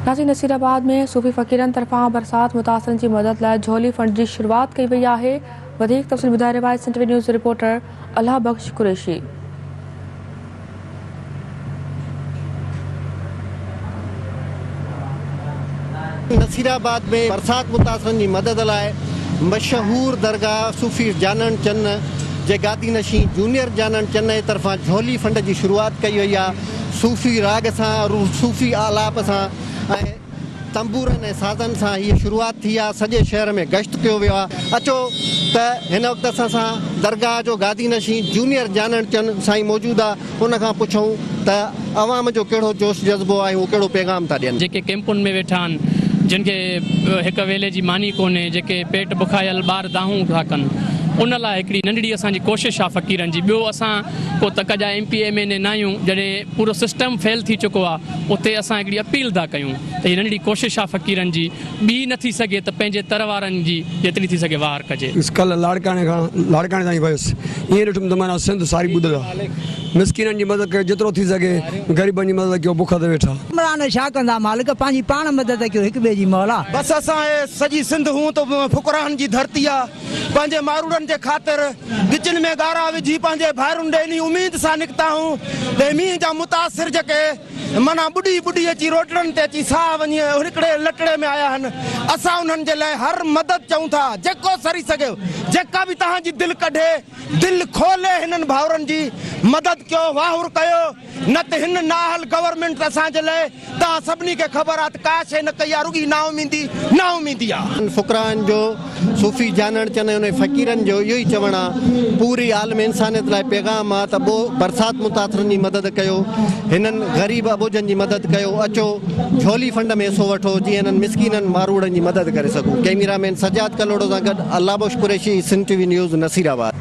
Nashik Nasirabad ۾ صوفي فقيرن طرفان برسات متاثرن جي مدد لاء جهولي فنڊ جي شروعات ڪئي وئي آهي وڌيڪ تفصيل ٻڌائي رهيو آهي Sindh V news reporter Allah Bakhsh Qureshi. Nasirabad ۾ برسات متاثرن جي مدد لاء مشهور درگاهه صوفي جانڻ چنه جي گادي نشين جونيئر جانڻ چنه طرفان جهولي فنڊ جي شروعات ڪئي وئي آهي صوفي راڳ سان، صوفي آلاپ سان ۽ تنبورن ۽ سازن سان هيء شروعات ٿي آ، سڄي شهر ۾ گشت ڪيو ويو آ. اچو ته هن وقت اسان سان درگاهه جو گادي نشين جونيئر جانڻ چن سائين موجود آ، ان کان پڇون ته عوام جو ڪهڙو جوش جذبو آ ۽ هو ڪهڙو پيغام ٿا ڏين. جيڪي ڪئمپن ۾ ويٺا آهن، جن کي هڪ ويلي جي ماني ڪونهي، جيڪي پيٽ بکايل ٻار دانهون ٿا ڪن، ان لاء هڪڙي ننڍڙي اسان جي ڪوشش آ فقيرن جي، ٻيو اسان ڪو تڪ جا M P M N A ناهيون جڏهن پورو سسٽم فيل ٿي چڪو آ اتي اسان هڪڙي اپيل ٿا ڪيون ته هي ننڍڙي ڪوشش آ فقيرن جي ٻي نه ٿي سگهي ته پنهنجي تر وارن جي جيتري ٿي سگهي واهر ڪجي. بس ڪلهه لاڙڪاڻي کان لاڙڪاڻي تائين ويس ائين ڏٺم ته معنيٰ سنڌ ساري ٻڏل آ مسڪينن جي مدد ڪيو جيترو ٿي سگهي غريبن جي مدد ڪيو بک تي ويٺا. عمران ڇا ڪندا مالڪ پنهنجي پاڻ مدد ڪيو هڪ ٻئي جي مولا. بس اسان اهي سڄي سنڌ هونء ته فقراهن جي ڌرتي آ. پنهنجي ماروڙن جي خاطر ڳچين ۾ ڳارا وجهي پنهنجي ڀائرن ڏي انهي اميد سان نڪتا هون ته مينهن جا متاثر جيڪي معنيٰ ٻڏي ٻڏي اچي روٽڙن تي اچي ساهه وڃي ۽ هڪڙي لٽڙي ۾ آيا هن اسان انهن جي لاء هر مدد چئون ٿا جيڪو سري سگهي جيڪا به توهان جي دل ڪڍي دل کولي هنن ڀائرن جي مدد ڪيو واهر ڪيو. نه ته هن نااهل گورنمينٽ اسان جي لئه توهان سڀني کي خبر آ ته ڪا شئي نه ڪئي آ رڳي نااميدي نااميدي آ. انهن فقراهن جو صوفي جانڻ چنه انهن فقيرن جو اهو ئي چوڻ آ پوري عالم انسانيت لاء پيغام آ ته ٻو برسات متاثرن جي مدد ڪيو هنن غريب اٻوجهن جي مدد ڪيو اچو جهولي فنڊ ۾ حصو وٺو جيئن هنن مسڪينن ماروئڙن جي مدد ڪري سگهون ڪئميرا مين سجاد ڪلهوڙو سان گڏ Allah Bakhsh Qureshi Sindh T V news Nasirabad.